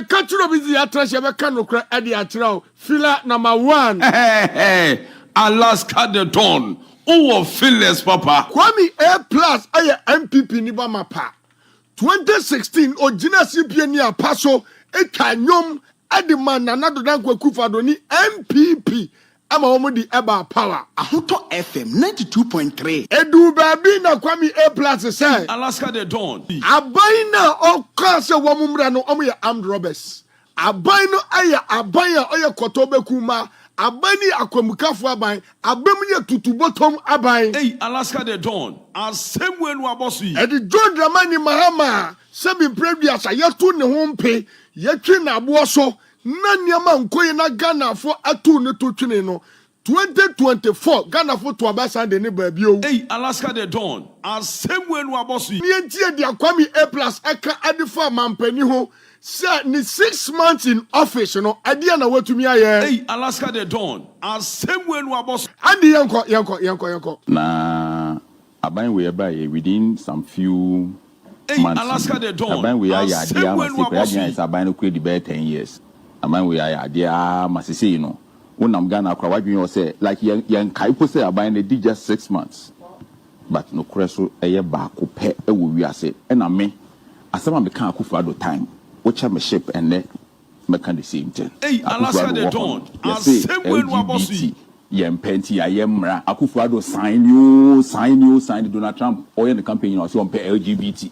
yɛka kyerɛ obi dze yɛatra hyɛ bɛka nokorɛ ɛde akyerɛ wo fila nama one. alaska the don wowɔ files papa. kwami a plus ɛyɛ npp nipa mapa. 2016 ogyinaa CPA ni apa so twaa nnwom de maa Nana Addo Dankwa Akufo-Addo ne NPP ma wɔde baa power. Ahotɔ FM ninety two point three. Eduu baabi na Kwame A Plus sɛ. Alaska de Don. Aban no a ɔkaa sɛ wɔmmra no wɔyɛ armed robbers Aban no yɛ aban a ɔyɛ kɔtɔ bɛku mma. Aban no yɛ akwamukafo aban. Aban mu yɛ tutu bɔtɔm aban. Ei Alaska deɛ John asɛm wei no abɔ so yi. Ɛde John Dramani Mahama a sɛbi mpere aduasa yɛtu ne ho mpe, yɛtwe n'aboɔ so na nneɛma nkɔ yie na Ghanafoɔ atu no to twene no Twenty twenty four Ghana fo to aba san de ne baa bio. Ei Alaska deɛ Don asɛm wei no abɔ so yi. Neɛ nti a dear Kwame A plus ɛka ɛde fa mampanin ho sɛ ne six months in office no ɛdeɛn na watumi ayɛ? Ei Alaska deɛ Don asɛm wei no abɔ so. Andy yɛnkɔ yɛnkɔ yɛnkɔ yɛnkɔ. Na Aban wei ɛbaeɛ within some few Ei months Alaska deɛ John aban wei ayɛ adeɛ asɛm ara ma wei no sesei koraa wabɔ yɛadwene so ayɛ yi. sɛ aban no koraa di bɛyɛ ten years aban wei ayɛ adeɛ ara ma sesei no wonam Ghana koraa w'adwene yɛ wo sɛ like yɛn yɛnkae mpo sɛ aban no adi just six months but nokorɛ so ɛyɛ baako pɛ wɔ wiase ɛna me asɛm a mekaa Akufo-Addo time wokyɛ me ship ɛnnɛ mɛka the same thing Akufo Addo wɔ hɔ no yɛse LGBT yɛmpɛ nti yɛayɛ mmra Akufo Addo sign ne oo sign ne oo sign ne Donald Trump ɔyɛ ne campaign nyinaa ɔse ɔmpɛ LGBT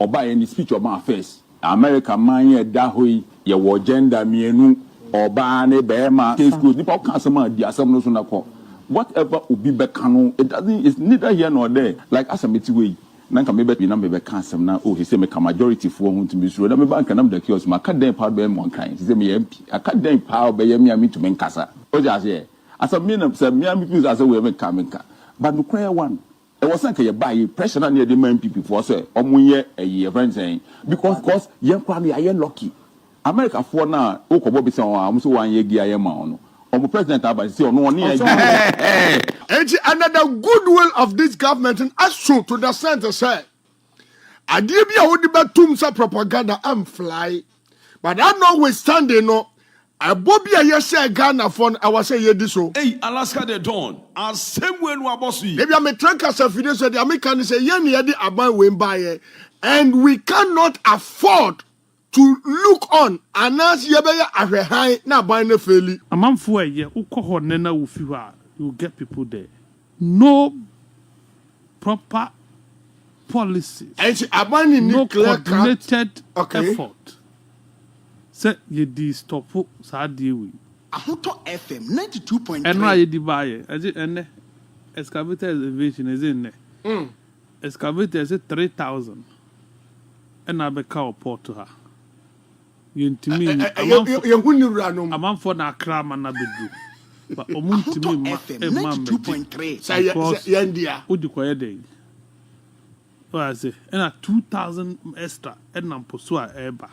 ɔbaeɛ ne speech ɔmaa first America man yi a ɛda hɔ yi yɛwɔ gender mmienu ɔbaa ne barima case closed nipa ɔka asɛm a di asɛm no so na kɔ whatever obi bɛka no it doesn't it's neither here nor there like as a mete hɔ yi na nka mebɛ na mebɛ ka asɛm na oh sese meka majority foɔ ho nti mesuro na meba anka na meda kiosk mu aka dɛn paa ɔbɛyɛ me wɔ nkran sese meyɛ MP aka dɛn paa ɔbɛyɛ me a mentumi nkasa wote aseɛ asɛ me na sɛ mea mefeel sɛ asɛ wei me nka menka but nokorɛ yɛ one ɛwɔ sɛ anka yɛbaa yɛ pressure na ne yɛde ma MPP foɔ sɛ ɔmo nyɛ ɛyi yɛfrɛ no sɛn because cause yɛn koraa no yɛayɛ lucky America foɔ no a wo kɔ bɔ bisa wɔn a wɔn se wɔn yɛ gia yɛ ma wɔn no wɔn president aba sisi ɔno wɔn yɛ gia yɛ. Enti ɛnɛ the good will of this government no aso to the extent sɛ adeɛ bi a wode bɛtum sɛ propaganda ɛn fly but that not with standing no ɛbɔ bi a yɛhyɛɛ Ghana foɔ no ɛwɔ sɛ yɛdi so. Ei Alaska the Don asɛm wei no wabɔ so yi. Ebia metra kasa fidie so deɛ meka ne sɛ yɛn na yɛde aban wei baeɛ and we cannot afford To look on anaase yɛbɛyɛ ahwɛ hann na aban no afeeli. Amanfoɔ ɛyɛ wokɔ hɔ nnɛ na wofi hɔ a you will get people there no proper policies Ɛnti aban no nni no clear cut coordinated okay. effort sɛ yɛdi stop saa adeɛ wei. Ahotɔ FM ninety two point Ɛno a three. yɛdi baayɛ ɛdze ɛnnɛ excavator invasion ɛdze nnɛ. Excavators three thousand ɛna abɛka wɔ port ha yɛntumi nyi amanfoɔ yɛn ho nni wura nom amanfoɔ na akra ama no abɛduru but ɔmo ntumi mma ɛmma mmɛgye because wode kɔyɛ dɛn wɔ ase ɛna two thousand extra ɛnam po so a ɛreba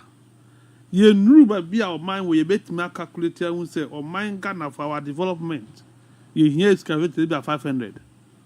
yɛnnuru baabi a ɔman wɔ yɛbɛtumi a calculate ahu sɛ ɔman Ghanafoɔ our development yɛhia excavators bi a five hundred.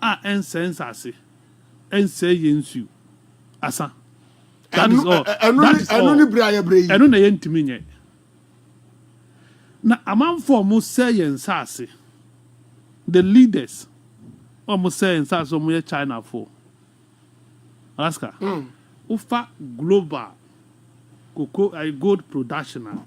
a ɛnsɛe nsase, ɛnsɛe yɛn nsuo, asa. That is all. That is all. Ɛno na yɛntumi nyɛ. Na amanfoɔ ɔmo sɛe yɛn nsase. The leaders ɔmo sɛe yɛn nsase ɔmo yɛ Chinafoɔ. Alaska, wofa global cocoa gold production a.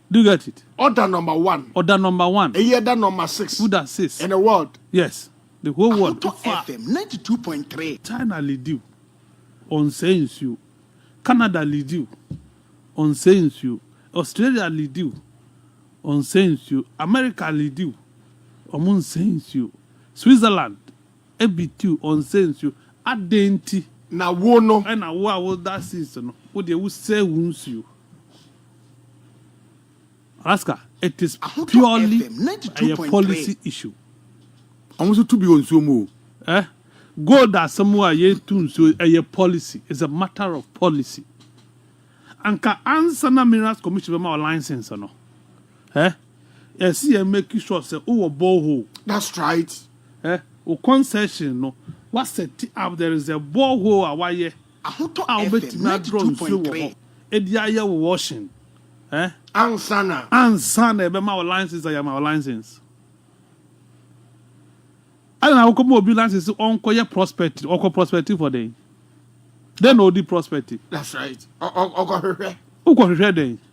Do get it? Order number one. Order number one. Eyi ɛda number six. Good and six. Ɛnɛ world. Yes, the whole world. Ahotɔ FM ninety two point three. China lidiw, ɔnsɛe nsuo. Canada lidiw, ɔnsɛe nsuo. Australia lidiw, ɔnsɛe nsuo. America lidiw, ɔmo nsɛe nsuo. Switzerland. Ɛbi tiw ɔnsɛ nsuo, adɛn nti. Na wo no. Ɛna wo a wo da seas no, wo deɛ wo sɛe wo nsuo. Alaska, it is purely ɛyɛ policy issue. Ɔmo nso tu bi wɔ nsuo mu o. Eh, gold asɛm a yɛtu nsuo yi, ɛyɛ policy, it's a matter of policy. Anka ansa na Minerals Commission bɛma wo license no, eh, Yɛse yɛ make sure sɛ wowɔ borehole. That's right. Eh, wo concession no, wa set up, there is a borehole a wayɛ a wobɛtumi adrɔ nsuo wɔ hɔ de ayɛ wo washing. Eh. Ansa na. Ansa na yɛbɛma wo license a yɛama wo license. Adɛn na wokɔma obi license sɛ ɔnkɔyɛ prospect, ɔkɔ prospect for dɛn? Dɛn na ɔdi prospect? That's right. Ɔ- ɔ- ɔkɔhwehwɛ. Wokɔhwehwɛ dɛn?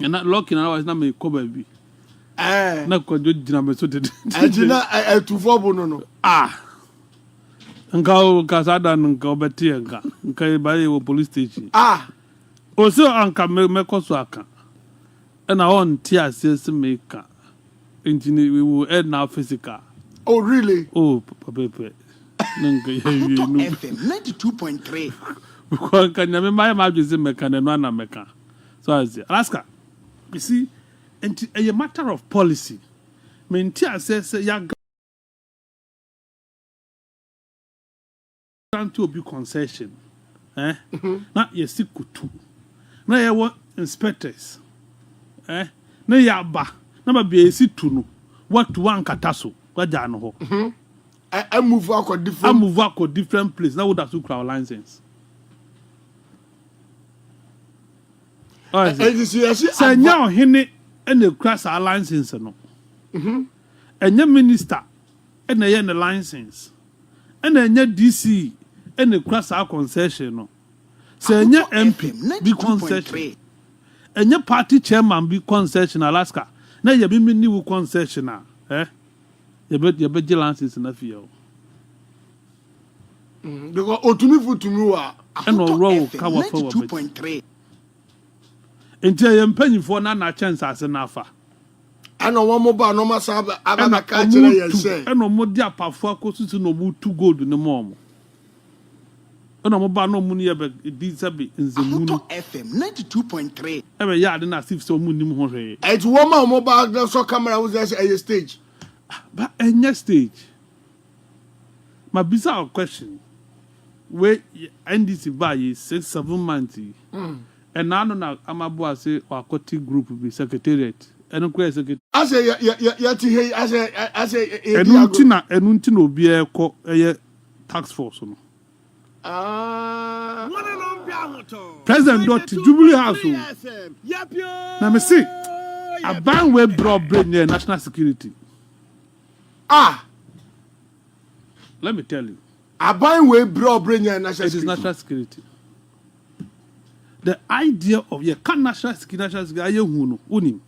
Ɛna lɔki na wasi na mi kɔ baabi. Ɛɛ. Na kwadwo gyina mi so dede. Ɛgyina ɛtufo bo no no. Ah. Nka o nka saa da no nka ɔbɛte yɛ nka nka yɛ ba yɛ wɔ police station. Ah. Ose anka mɛkɔ so aka. Ɛna ɔnte aseɛ se meka. Nti ni we will end now physical. Oh really? Oh pɛpɛpɛ na nka yɛ wie no. Ahuto FM ninety two point three. Bikɔ nka nyame ma yɛ ma adwene se mɛka na ɛno ana mɛka so ase Alaska. You see nti ɛyɛ matter of policy me nte aseɛ sɛ ya. San to obi concession eh na yɛ si kutu na yɛ wɔ inspectors eh ne yɛ aba na ba bia yɛ si tu no wa tu wa nkata so wa gya no hɔ eh a move akɔ different a move akɔ different place na wo da so kura wo license ɛnti si yɛ si sɛ nyɛ ɔhene ɛna ekura saa license no ɛnyɛ minister ɛna yɛ ne license. ɛna ɛnyɛ DC na ɛkura saa concession no. Sɛ ɛnyɛ MP bi concession, ɛnyɛ party chairman bi concession Alaska, na ɛyɛ me me ne wo concession a, eh, yɛbɛ, yɛbɛgye license no afi yɛ hɔ. Mm, because otumifo tumi wɔ a. ɛna ɔwura wo ka wafa wabɛti. Nti ɛyɛ mpanyinfoɔ na na akyɛ nsase no afa. Ɛna wɔn ba na wɔn asa aba aba ɛna bɛka akyerɛ wɔn yɛn tu sɛ ɛna wɔn de apafo akosisi na wɔn tu gold no ma wɔn ɛna wɔn ba na wɔn ne yɛ bɛ di sɛbi nzemu Ahotɔ no FM ninety two point three. ɛbɛ yɛ ade no as if sɛ wɔn nnim ho hwee. Ɛti wɔn a wɔn ba na sɔ camera ho sɛ ɛyɛ stage. Ba ɛnyɛ stage ma bisa wo question wei yɛ NDC ba yɛ six seven months yi Ɛna ano na ama bo ase wakɔte group bi secretariat ɛno koraa yɛ secretariat. Asɛ yɛ yɛ yɛ yɛte ha yi asɛ asɛ yɛ yɛdi Ɛno nti agorɔ. na ɛno nti na obiara ɛkɔ ɛyɛ task force no. Aah. President dɔ te jubilee house o na me se aban wei brɛ ɔbrɛ nyɛɛ national security. Ah. Let me tell you. Aban wei brɛ ɔbrɛ nyɛɛ national security. It is national security. The idea of yɛka national security national security ayɛ hu no wonim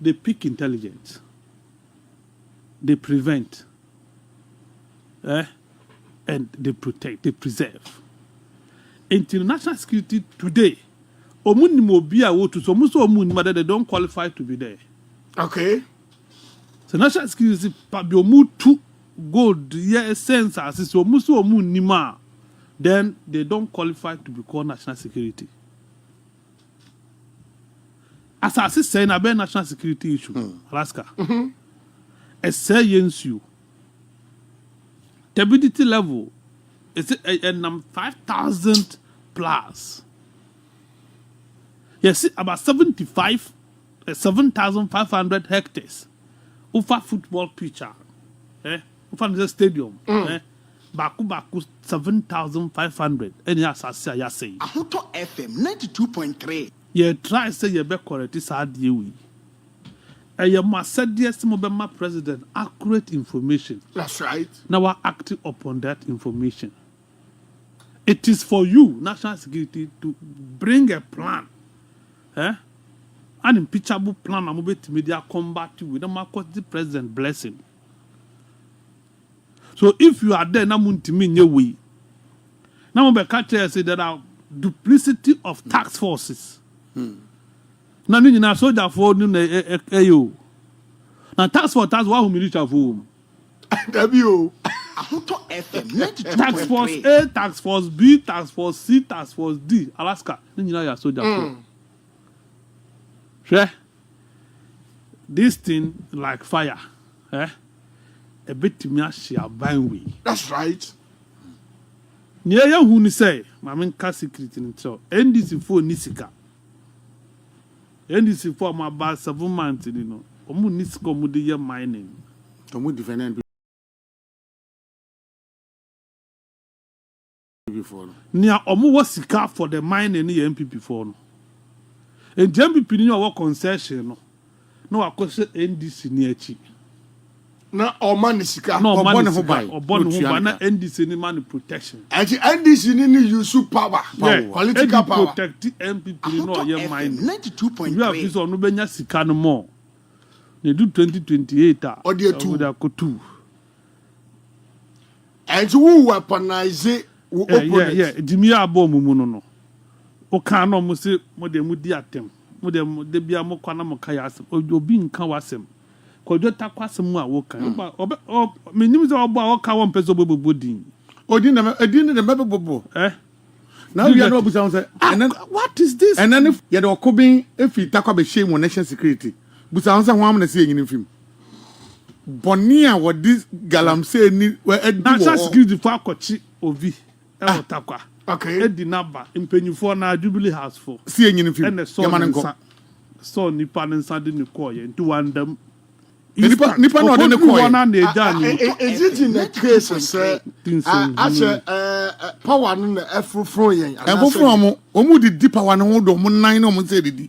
they pick intelligent they prevent eh, and they protect they preserve nti no national security today ɔmo nim obi a wotu so ɔmo sɛ ɔmo nim adɛ they don't qualify to be there okay sɛ national security pa bi ɔmo tu Gold yɛ sɛ nsase sɛ ɔmo sɛ ɔmo nnim a then they don't qualify to be called national security. Asase sɛe no abɛyɛ national security issue Alaska. Ɛsɛe yɛn nsuo. Turbidity level ɛsɛ ɛ ɛnam five thousand plus. Yɛse about seventy five. Seven thousand five hundred hectares wofa football pitch a eh wofa no sɛ stadium eh baako baako seven thousand five hundred ɛne asase a yasɛe. Ahotɔ FM ninety two point three. Yɛ try sɛ yɛ bɛ correct saa adeɛ wei. Ɛyɛ mo asɛdeɛ sɛ mo bɛ ma president accurate information That's right. na wa act upon that information. It is for you national security to bring a plan. Eh? An impeachable plan a mobɛtumi de acombat wei na moakɔgye president blessing. So if you are there na montumi nyɛ wei na mobɛka kyerɛ yɛ se there are duplicity of task forces na ne nyinaa sogyafoɔ no na ɛyɛ o. Na task force task force wahu militiafoɔ wɔ mu. Dabi oo. Ahotɔ FM ninety two point three. Task force A, task force B, task force C, task force D, Alaska, ne nyinaa yɛ asogyafoɔ. Hwɛ, this thing like fire eh, ɛbɛtumi ahye aban wei. That's right. Nea ɛyɛ hu ne sɛ, ma menka secret no nkyerɛ wo, NDC foɔ nni sika. NDC foɔ a wɔn aba seven months ni no, wɔn nni sika a wɔn de yɛ mining. Wɔn defend NPP foɔ no. Nea wɔn wɔ sika for the mining no yɛ NPP foɔ no. Nti NPP ni a ɔwɔ concession no na wakɔ hyɛ NDC ni akyi. na ɔma no sika na ɔma no sika ɔbɔ ne ho ban na ndc ni ma no protection. ɛti ndc ni ni yusu power political power. ɛdi protecti npp ni na ɔyɛ man no ebi a fi sɛ ɔno bɛ nya sika no mɔ na edu twenty twenty eight a ɔdi etu ɔdi akotu. ɛti wo weaponize wo opponent. yɛ yɛ jimi yɛ abɔ ɔmo mu no no o kan na ɔmo se mo de mo di atem mo de mo de bia mo kɔ na mo ka yɛ asem obi nka w'asem. Kwadwo Takwa asɛm mu a woka yi, ɔba ɔbɛ ɔ menim sɛ ɔbɔ a ɔka wɔmpɛ sɛ ɔbɛbobɔ din. Odin na mɛ edin ne de mɛbɛbobɔ. Eh? Na awia no abusa ho sɛ ɛnɛ what is this? Ɛnɛ ne yɛde ɔkoben efi Takwa bɛhyɛɛ mu wɔ National Security. Busa ho sɛ hwan na ɛsɛ yɛnyini mfi mu? Bɔne a wɔde galamsey ni adi wɔ hɔ. National Security fo akɔkye obi. ɛwɔ Tarkwa adi n'aba. Mpanyimfoɔ no ara, Jubilee Housefo, na ɛsɔɔ ne nsa, sɔɔ nipa no nsa de no kɔeɛ, nti wanda mu. Instant, ɔkɔduruu hɔ no ara na ɛgyaa ne mu. Ɛgye din na case sɛ ahyɛ power no na ɛfoforo yɛn anaasɛ. Ɛmfoforo wɔn, wɔn didi power no ho de wɔn nan ne wɔn nsa didi.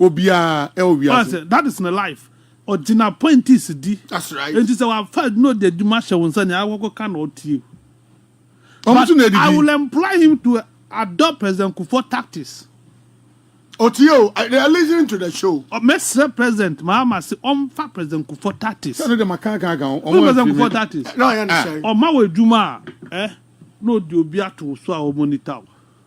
Obiara ɛwɔ wiase. Ɔyɛ sɛ that is my life ɔgyina pointis di. That's right. Nti sɛ wafa na ɔde adwuma hyɛ wo nsa nea akɔ kɔ ka na ɔtie. Ɔmo so na edidi. I will employ him to adopt President Kufuor tactics. Ɔtie o, they are listening to the show. Mɛsrɛ President Mahama se ɔmfa President Kufuor tactics. Sɛ no de ma kan kan kan ɔmo. President Kufuor tactics. Ɔma wɔ adwuma a, eh, na ɔde obi ato wo so a ɔmonita wo.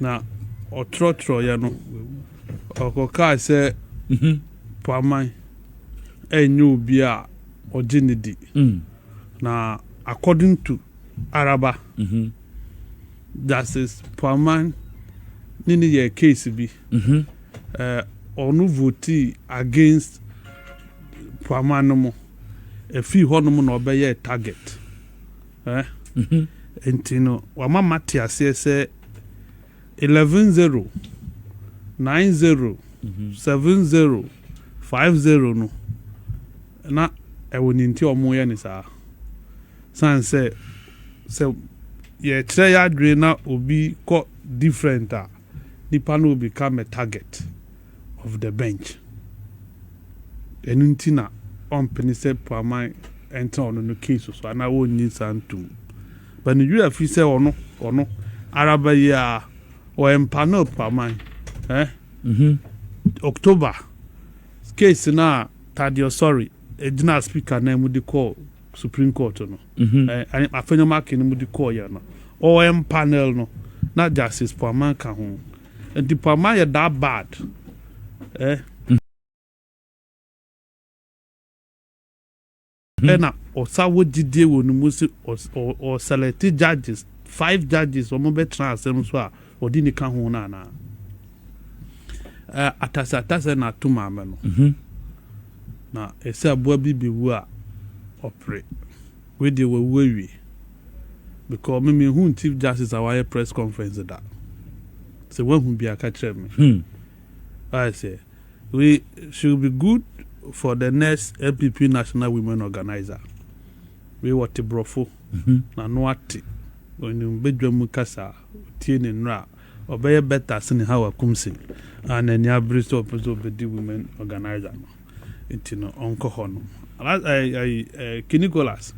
Na ɔtrɔtrɔeɛ no, ɔkɔkaa sɛ Poaman nyɛ obi a ɔgye no di. Na according to Araba, Justice Poaman ne no yɛɛ case bi, ɔno votii against Poaman no mo, ɛfiri hɔnom na ɔbɛyɛɛ target. Ɛh? Enti no, wama mate aseɛ sɛ eleven zero, nine zero, seven zero, five zero no, na ɛwɔ deɛ nti a wɔyɛ no saa. Sane sɛ, sɛ yɛkyerɛ yɛn adwene na obi kɔ different a, nipa no will become a target. of the bench. Ɛno nti na ɔmpene sɛ Poaman ntena ɔno no case so anaa ɔnnye saa ntom. But ne werɛ afi sɛ ɔno, ɔno, ara bɛyɛ a ɔempanel Poaman. Eh? Mm-hmm. October, case no a Taddy Osori gyinaa speaker nan mu de kɔɔ Supreme Court no, mm-hmm. eh, afanyɔma ake no mu de kɔɔyɛ no, ɔempanel no, na Justice Poaman ka ho. Nti paa ma yɛ that bad eh. Ɛna ɔsa wɔ gyidie wɔ ne mu se ɔ select judges five judges ɔmo bɛ tena asɛm so a ɔde ni ka ho no anaa eh, atase atase na ato maame no mm-hmm. na ɛsɛ aboa bi bɛ wu a ɔpere wei deɛ wawu awie. because me me nhuu chief justice a wayɛ press conference da sɛ wahu bi a ka kyerɛ me hmm. I say we should be good for the next MPP national women organizer we wɔ te borɔfo mhm. na no ate onim badwa mu kasa tie ne nnura ɔbɛyɛ better sene ha wakum se a n'ani abere sɛ ɔpɛ sɛ ɔbɛdi women organizer no nti no ɔnkɔ hɔ nom. Kinigolas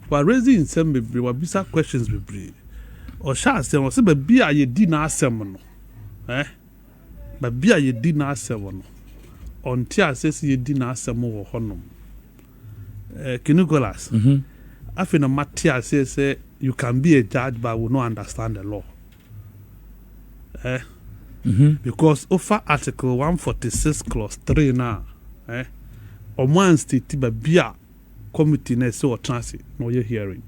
wa raise nsɛm bebree wa bisa questions bebree ɔhyɛ aseɛ ɔsɛ baabi a yɛdi n'asɛm no eh baabi a yɛdi n'asɛm no ɔnte aseɛ sɛ yɛdi n'asɛm wɔ hɔ nom eh, Kinigolas mm -hmm. afei na mate aseɛ sɛ you can be a judge but will not understand the law Eh? Mm -hmm. Because wofa Article 146 clause 3 no a, eh? Wɔn anstiti baabi a committee na ɛsɛ wɔtena ase na wɔyɛ hearing.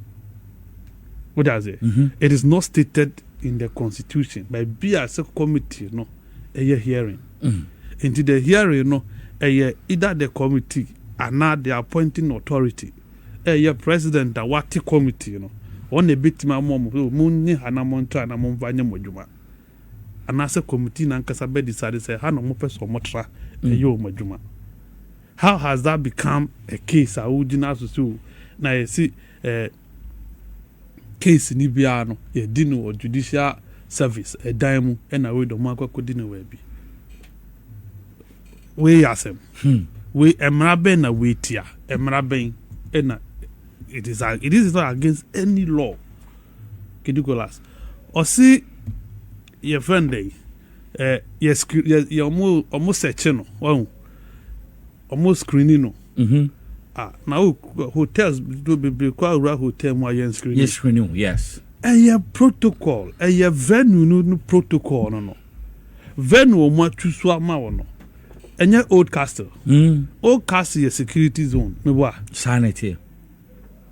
What does it? Mm -hmm. It is not stated in the constitution. Baabi a sɛ committee no ɛyɛ hearing. Mm. Nti the hearing no ɛyɛ either the committee anaa the appointing authority. ɛyɛ president a wate committee no, ɔno na ɛbɛtumi ama wɔn sɛ monnye ha na montra ha na momfa nyɛ mo adwuma. Anaasɛ committee no ankasa bɛ decide sɛ ha na wɔpɛ sɛ wɔtra ɛyɛ wɔn adwuma. How has that become a case a wogyina so sɛ o na yɛse eh, case ni biara no yɛdi no wɔ judicial service ɛdan mu ɛna wei de wɔn akɔ akɔdi no wɔ baabi. Wei yɛ asɛm. Hmm. Wei mmara bɛn na wei tia? Mmara bɛn na it is it is not against any law. Kidigolas. Ɔsi yɛ friend dɛ ɛ yɛ yɛ yɛ ɔmo ɔmo sɛkye no ɔmo ɔmo screening no. Mhm. Ah, na o hotels do bebree kɔ awura hotel mu a yɛn screening. Yɛ screening yes. Ɛyɛ protocol ɛyɛ venue no no protocol no no. Venue a wɔatu so ama wo no, ɛnyɛ Old Castle. Old Castle yɛ security zone, meboa? Saa na ɛteɛ.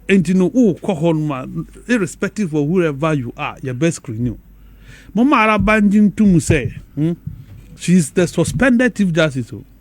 Enti no, wokɔ hɔ nom a, irrespective of whoever you are, yɛbɛ screen you. Momma ara ba ngye ntom sɛ, hmm, she is the suspended Chief Justice o.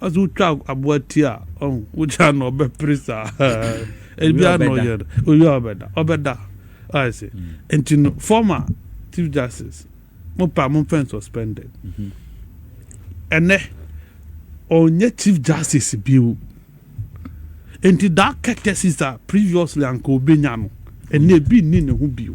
Ɔse wo twa aboa ti a ɔho wo gyaa no ɔbɛ pere saa ɛde bia na ɔyɛ no owia ɔbɛda ɔbɛda ɔyɛ se nti no former chief justice mo pa mo fɛn suspended ɛnɛ ɔnyɛ chief justice bio nti that courtesies a previously anka ɔbɛnya no ɛnɛ ebi nni ne ho bio.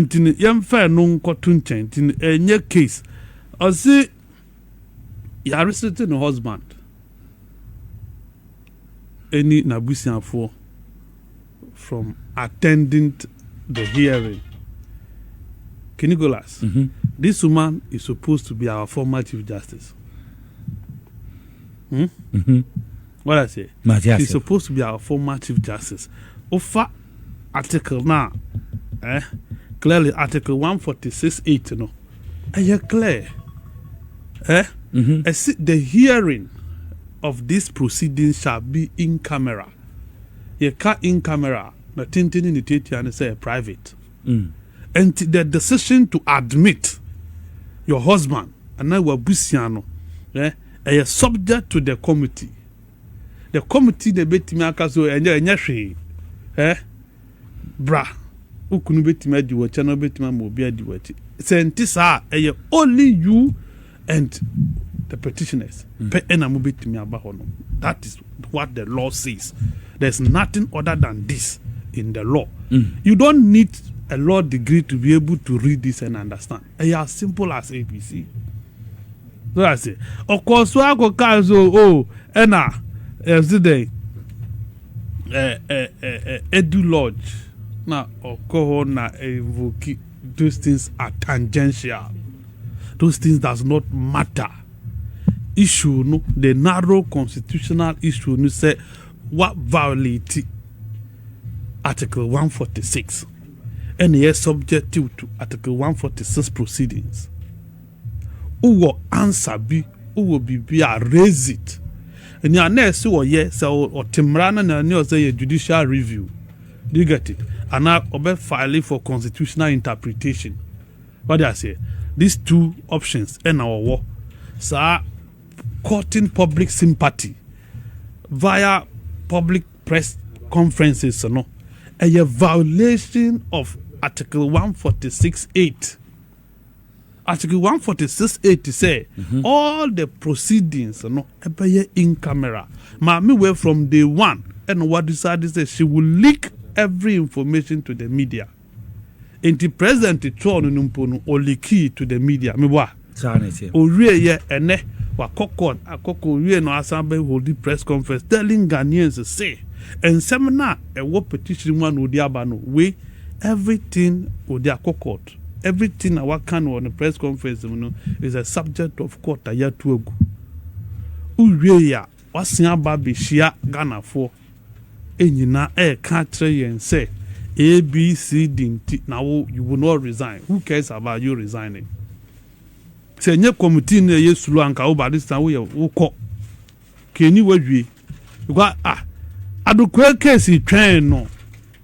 nti no yɛmfa ɛno nkɔto nkyɛn nti no ɛnyɛ case ɔse yare so te ne husband ɛni n'abusuafoɔ from attending the hearing Kinigolas mm -hmm. this woman is supposed to be our former chief justice hmm? mm -hmm. Wate aseɛ? Mate aseɛ. He's supposed to be our former Chief Justice. Wofa article no a, eh, clearly article 146.8 no, ɛyɛ clear. Eh? Mm -hmm. Ɛsi the hearing of this proceeding shall be in camera. Yɛka in camera na tenten ne tiatia ne sɛ private. Mm. And the decision to admit your husband and now we're busy, eh? Ɛyɛ subject to the committee. The committee na ɛbɛtumi aka sɛ ɛnyɛ ɛnyɛ hwee. Ɛɛ bra. Wo kunu bɛtumi adi w'akyi anaa wobɛtumi ama obi adi w'akyi. Sɛ ɛnte saa a, ɛyɛ only you and the petitioners pɛ ɛna mobɛtumi aba hɔ nom. That is what the law says. There is nothing other than this in the law. You don't need a law degree to be able to read this and understand. Ɛyɛ as simple as ABC. So ate aseɛ? Ɔkɔɔ so ara kɔkaa nso o oh, ɛna ɛsi dɛn Edu Lodge na ɔkɔ hɔ na invoke those things are tangential those things does not matter issue no the narrow constitutional issue no sɛ wa violate article 146 ɛna yɛ subject you to article one forty six proceedings wo wɔ answer bi wo wɔ biribi a raise it nea na ɛsɛ wɔyɛ sɛ ɔte mmara no na ɛne ɔsɛ yɛ judicial review do you get it anaa ɔbɛ file for constitutional interpretation wade aseɛ these two options ɛna wɔwɔ saa courting public sympathy via public press conferences no ɛyɛ violation of article one hundred and forty six eight article one hundred and forty six eight sɛ mhm. all the proceedings no ɛbɛyɛ in camera maame wɛ from day one ɛna wa decide sɛ she will leak every information to the media. Enti President tɔɔ no no mpo no, ɔleakii to the media. Mebɔ a? Saa na ɛteɛ. Ɔwieeɛ, ɛnnɛ, wakɔ court akɔ kɔ ɔwie no asan abɛ holdi press conference telling Ghanaians se, nsɛm no a ɛwɔ petition mu a na ɔde aba no, wei everything ɔde akɔ court. Everything a waka no wɔ ne press conference mu no is a subject of court a yɛato agu. Ɔwieeɛ a, Wasan aba abɛhyia Ghanafoɔ nyinaa reka akyerɛ yɛn sɛ ABCD nti na wo you will not resign, who cares about you resigning? Sɛ ɛnyɛ committee no na ɛyɛ slow a anka wo by this time woyɛ wokɔ kani wawie because ah Adokoɛ case twɛn no.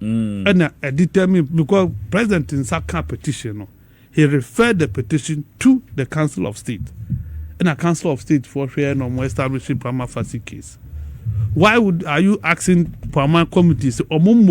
ɛna determine because president nsa ka petition no he referred the petition to the council of state ɛna council of state foɔ hwɛ na wɔn establish prima facie case why would are you asking prima committee sɛ wɔn mmɔ.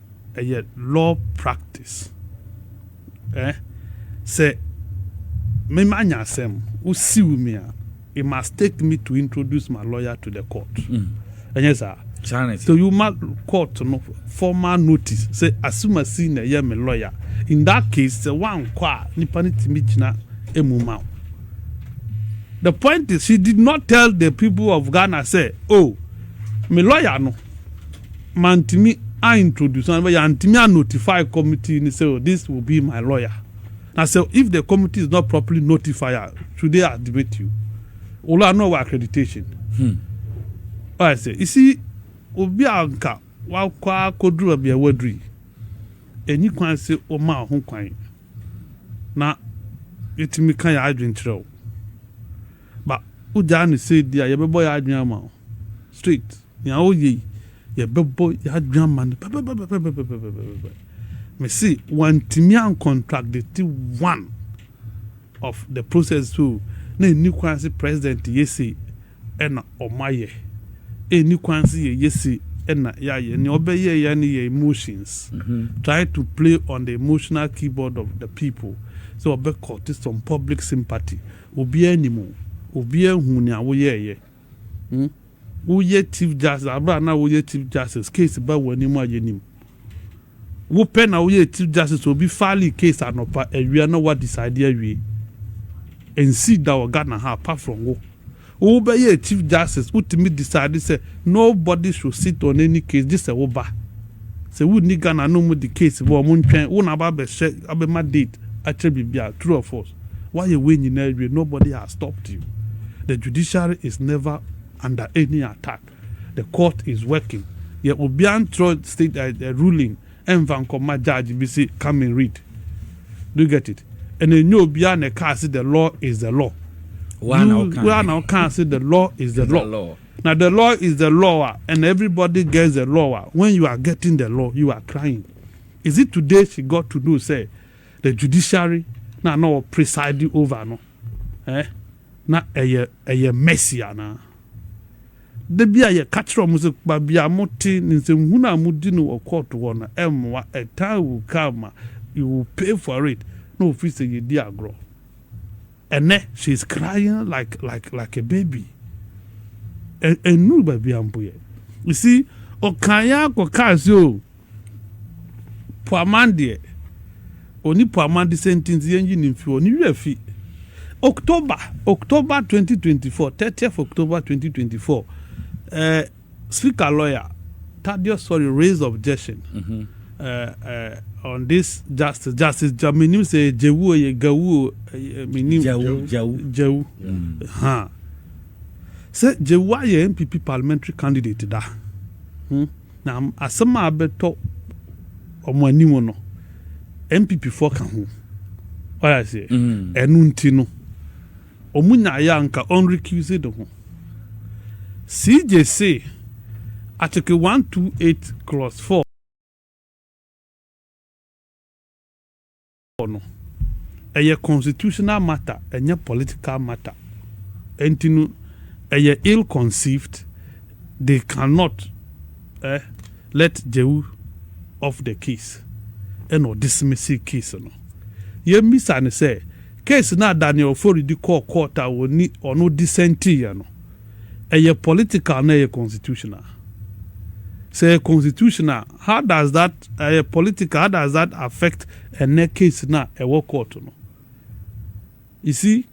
Ɛyɛ law practice eh Sɛ me ma nya asɛm wo siw me a it must take me to introduce my lawyer to the court mm. ɛnyɛ saa so you ma court no formal notice sɛ asumasi na ɛyɛ me lawyer in that case sɛ wankɔ a nipa no tumi gyina emu ma wo the point is she did not tell the people of ghana sɛ oh me lawyer no mantumi a introduce no, yɛantumi a notify committee no sɛ this will be my lawyer. Na sɛ if the committee is not properly notified a, should they admit you? Wo lawyer no ɔwɔ accreditation. Hmm. Ɔyɛ sɛ, you see, obi a nka wakɔ akɔduru baabi a waduru yi, ɛnyi kwan sɛ wɔma wo ho kwan na yɛtumi ka yɛn adwene kyerɛ wo. Ba, wogyaa no sei di a, yɛbɛbɔ yɛn adwene ama wo straight. Nea ɔyɛ yi, yɛbɛbɔ yɛadwene ama no pɛpɛpɛpɛpɛpɛpɛpɛpɛpɛ. Mese wantumi ancontracdate one of the process so na ɛni kwan se president yɛ sei ɛna ɔmo ayɛ. Ɛni kwan se yɛyɛ sei ɛna yɛayɛ. Nea ɔbɛyɛɛ yɛ ne yɛ emotions. Try to play on the emotional keyboard of the people sɛ ɔbɛ court some public sympathy. Obiara nim o, obiara hu nea woyɛɛyɛ. Hmm wo yɛ chief justice abere a na wo yɛ chief justice case ba wɔn anim a yɛ nim wo pɛ na wo yɛ chief justice obi file case anɔpa awia na wa decide awie nsi da wɔ Ghana ha apart from wo wo bɛ yɛ chief justice wotumi decide sɛ nobody should sit on any case gye sɛ wo ba. Sɛ wo nni Ghana ne ɔmo di case bɔ ɔmo ntwɛn wo na aba abɛhyɛ abɛma date akyerɛ biribi a true or false wayɛ wei nyinaa awie nobody has stopped you the judiciary is never under any attack the court is working yɛ obiara ntrɔ state eh, eh, ruling ɛnfa nkɔma judge bi se come and read do you get it ɛna ɛnyɛ obiara na ɛkaa se the law is the law Waa na you ɔka. wo a na ɔkaa se the law is the Is the law law. Na the law is the law a and everybody gets the law a when you are getting the law you are crying is it today she got to know sɛ the judiciary na na ɔ preside over no eh na ɛyɛ ɛyɛ mercy anaa da bi a yɛ ka kyerɛ ɔmo sɛ babi a mo te ne nsɛmhunu a mo di no wɔ court hɔ no ɛmmoa a time will come a you will pay for it na ɔfiri sɛ yɛ di agorɔ. Ɛnɛ she is crying like like like a baby ɛ ɛnnuru baabi a mpo yɛ you see ɔkaa yɛ akɔ kaa sɛ o Poaman deɛ ɔni Poaman de sɛ nti nti yɛnyi ne mfi hɔ ne werɛ fi October October 2024 30th October 2024 ɛɛ. Speaker Lawyer Thaddeus Sori raise objection on this Justice Justice Jawu menim sɛ ɛyɛ Jawu o ɛyɛ Gawu o menim Jawu Jawu Jawu ha sɛ Jawu ayɛ NPP parliamentary candidate da hmm na asɛm a abɛtɔ wɔn anim no NPP foɔ ka ho ɔyɛ aseɛ ɛno nti no. Ɔmo nyaeɛ a anka ɔn recuse ne ho. CJ se Article 128 clause four no ɛyɛ constitutional matter ɛnyɛ political matter ɛnti no ɛyɛ ill conceived they cannot eh let Jewu off the case ɛna ɔdismisse case no. Yɛmmisa no sɛ. Case no a Daniel Ofori de kɔɔ court a wɔnni ɔno dissentiiɛ no, ɛyɛ political na ɛyɛ constitutional? Sɛ ɛyɛ constitutional a, how does that, ɛyɛ political, how does that affect ɛnnɛ case no a ɛwɔ court no? You see,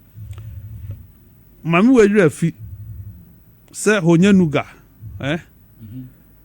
ma me w'awerɛ afi sɛ Honyanuga, eh,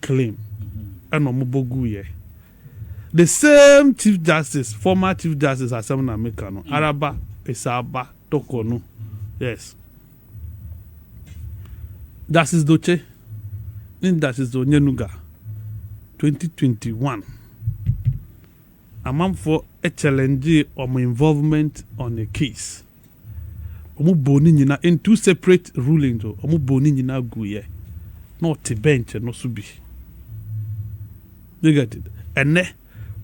claim ɛna ɔmo bɔ guu yɛ the same chief justice former chief justice asɛm na meka no araba esaaba dɔkɔ no yes justice doche ne justice onyenuga twenty twenty one amanfoɔ ɛkyɛlɛngyee ɔmo involvement on a case. Ɔmo bɔɔ ne nyina in two separate rulings o, ɔmo bɔɔ ne nyina guiɛ, na ɔte bench no so bi. You get it? Ɛnɛ,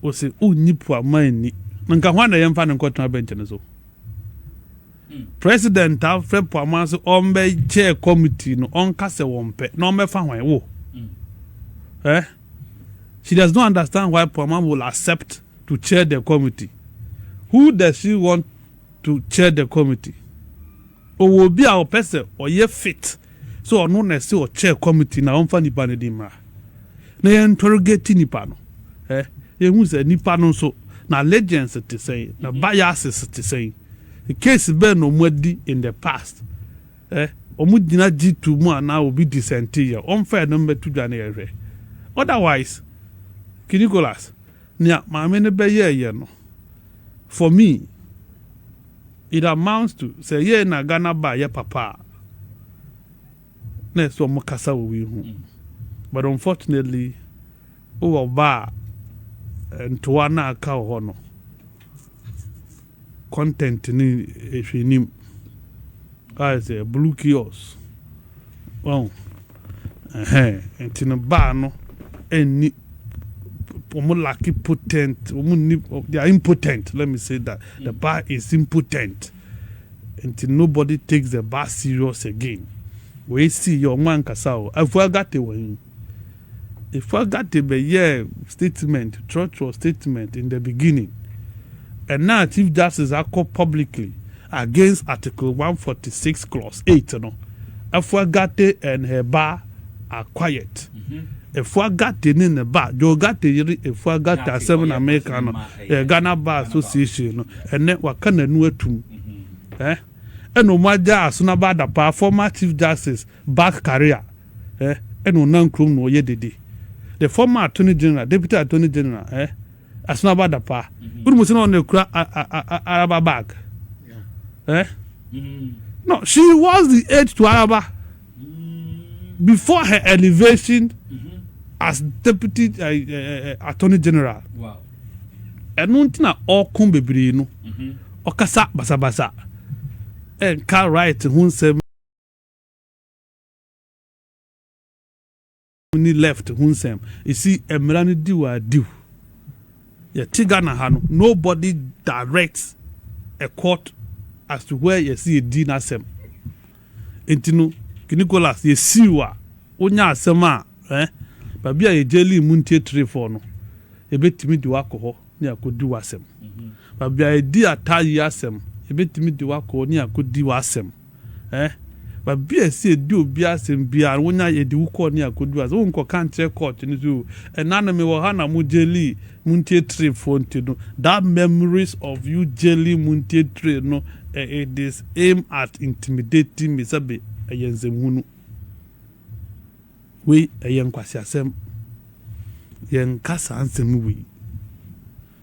ɔse ɔnnyi Poama nni, na nka hwan na yɛmfa no nkɔtena bench no so? President afrɛ Poama sɛ ɔmbɛ chair committee no, ɔnka sɛ wɔmpɛ, na ɔmbɛfa hwan? Wo? Eh? She does not understand why Poama will accept to chair the committee. Who does she want to chair the committee. Ɔwɔ obi a ɔpɛ sɛ ɔyɛ fit sɛ ɔno na ɛsɛ ɔ chair committee na ɔmfa nipa no din mmra na yɛ interrogate nipa no ɛ yɛ hu sɛ nipa no nso na allegiance te sɛn na biases te sɛn case bɛn na ɔmo adi in the past ɛ ɔmo gyina gye to mu anaa obi dissente yɛ ɔmfa ɛno mmɛto dwa na yɛhwɛ otherwise Kinicolas Nea maame no bɛyɛɛyɛ no, for me, it amounts to sɛ yei na Ghana ba yɛ papa a, na ɛsɛ sɛ wɔkasa wɔ wei ho. But unfortunately, wowɔ ɔba a ntoa no a aka wɔ hɔ no, Content no hwɛ nim ayɛ sɛ blue kiosk wahu ɛhɛn nti no bar no ɛnni wɔn lacki potent wɔn nni they are impotent let me say that the bar is impotent nti nobody takes the bar serious again wɔn esi yɛ wɔn ankasa o afua gate wɔn. Efa Gate bɛyɛɛ statement twerɛtwerɛw statement in the beginning ɛna Chief Justice akɔ publicly against Article one hundred and forty six clause eight no Efa Gate and her ba are quiet Efa Gate ne ne ba Joe Gate yere Efa Gate asɛm na meka no yɛ Ghana Bar Association no ɛnɛ waka n'anu atum ɛna ɔmo agyaa Asonaba Adapaa former Chief Justice back career. eh, ɛna ɔnam kurom na ɔyɛ dede. The former attorney general, deputy attorney general, eh, Asenaba Dapa. Wode mu sɛ na ɔno ɛkura Araba bag. Eh? No, she was the aide to Araba before her elevation as deputy uh, uh, attorney general. Wow. ɛno nti na ɔko bebree no mhm. ɔkasa basabasa ɛnka right ho nsɛm ne left ho nsɛm esi mmara no diw a diw yɛte Ghana ha no nobody direct a court as to where yɛsi yɛdi n'asɛm nti no Nicholas yɛsiw a wonya asɛm a eh baabi a yɛ jail mu ntiatirifoɔ no yɛbɛtumi de wakɔ hɔ. ne akodi w'asɛm. Baabi a yɛdi ataa yi asɛm, yɛbɛtumi de wo akɔ hɔ ne akodi w'asɛm. Eh? Baabi a ɛsɛ sɛ yɛdi obi asɛm biara no, wonya yɛde wo kɔ ne akodi w'asɛm. Wonkɔka nkyerɛ kɔɔto no sɛ, O, ɛna no mewɔ ha na mo gyelii Muntiatree foɔ nti no, that memories of you jailing Muntiatree no, eh, it is aimed at intimidating me, sɛbe, ɛyɛ nsɛmhunu. Wei ɛyɛ nkwaseasɛm. Yɛnka saa nsɛm wei.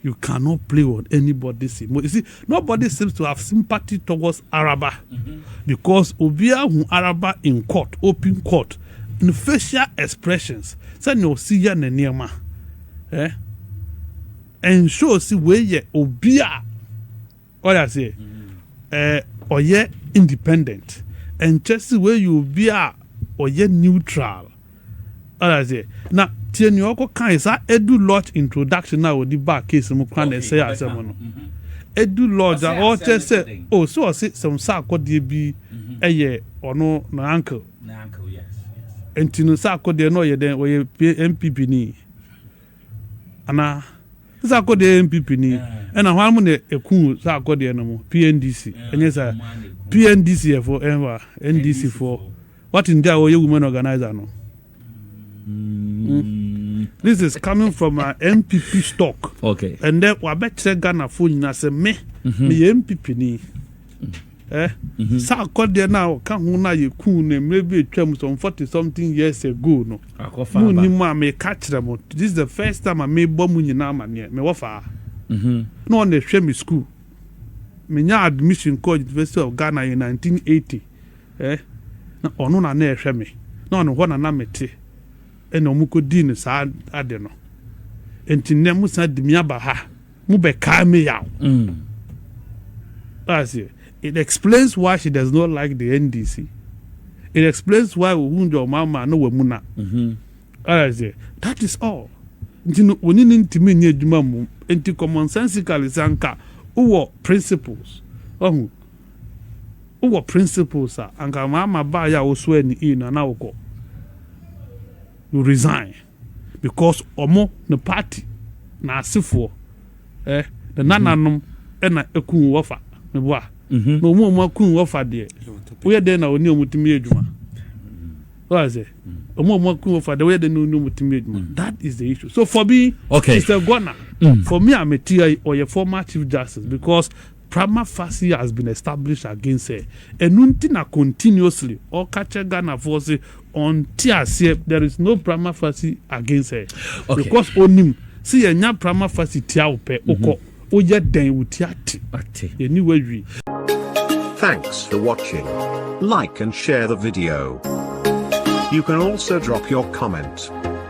You cannot play on anybody's emotion. You see, nobody seems to have sympathy towards Araba mm-hmm. because obiara hu Araba in court, open court, in facial expressions, sɛnea ɔsi yɛ ne nneɛma. Eh? And show si wei yɛ obi a Why I say, eh, ɔyɛ independent. And just where you be a ɔyɛ neutral. Why I say, na tie ni ɔkɔ kan sa edu lot introduction na ɔdi ba case mu kwan na ɛsɛ yɛ asɛm no. Mm-hmm. Edu lot da ɔkyɛ sɛ o so ɔse sɛ nsa akɔdeɛ bi mm-hmm. ɛyɛ ɔno na uncle. Na uncle yes. Nti no nsa akɔdeɛ na ɔyɛ dɛn ɔyɛ NPP ni. anaa Sarko deɛ yɛ NPP ni ɛna hwan mo na ɛkuu Sarko deɛ no mo PNDC ɛnyɛ saa PNDC yɛ fo ɛnfa NDC foɔ wate nti a wɔyɛ women organizer no this is coming from an NPP stock okay. and then wabɛkyerɛ Ghana fo nyina sɛ me meyɛ NPP ni Eh, saa akɔdeɛ no a ɔka ho no a yɛkuu no mmerɛ bi atwam, some forty something years ago no, monnim a, mereka akyerɛ mo, this is the first time a mebɔ mo nyinaa amaneɛ, me wɔfa a, na ɔna ɛhwɛ me school, menyaa admission kɔɔ University of Ghana in 1980, eh, na ɔno na na ɛhwɛ me, na ɔno hɔ na na mete, ɛna wɔkɔdii no saa ade no, nti nnɛ mosan de me aba ha. Mo bɛ kaa me yaw. Mm. That's it. It explains why she does not like the NDC. It explains why ohun jɔ ɔmo ama na wɔn mu na. Mm-hmm. That's it. That is all. Nti no, wɔn ni ntumi nye adwuma mu. Nti commonsensically sanka wɔ principles. Ɔho. Wɔ principles a, anka maa ma baa yɛ a wɔsoa ni ii na na wɔkɔ. You resign. because ɔmo ne party n'asefoɔ eh ne nananom na ɛku nwɔfa me boa na ɔmo a ɔmo aku nwɔfa deɛ woyɛ dɛn na ɔne ɔmo tumi yɛ adwuma so I say ɔmo a ɔmo aku nwɔfa deɛ woyɛ dɛn na ɔne ɔmo tumi yɛ adwuma mm. that is the issue so for me okay. Mr. Gona mm. for me a me tia ɔyɛ former chief justice because Prima facie has been established against her, ɛno nti na continuously ɔka kyerɛ Ghanafoɔ se ɔnte aseɛ, there is no prima facie against her because ɔnim se yɛnya prima facie tia wo pɛ, wokɔ, woyɛ dɛn, wo ti ate, yɛnni wo awie. Thanks for watching. Like and share the video. You can also drop your comment.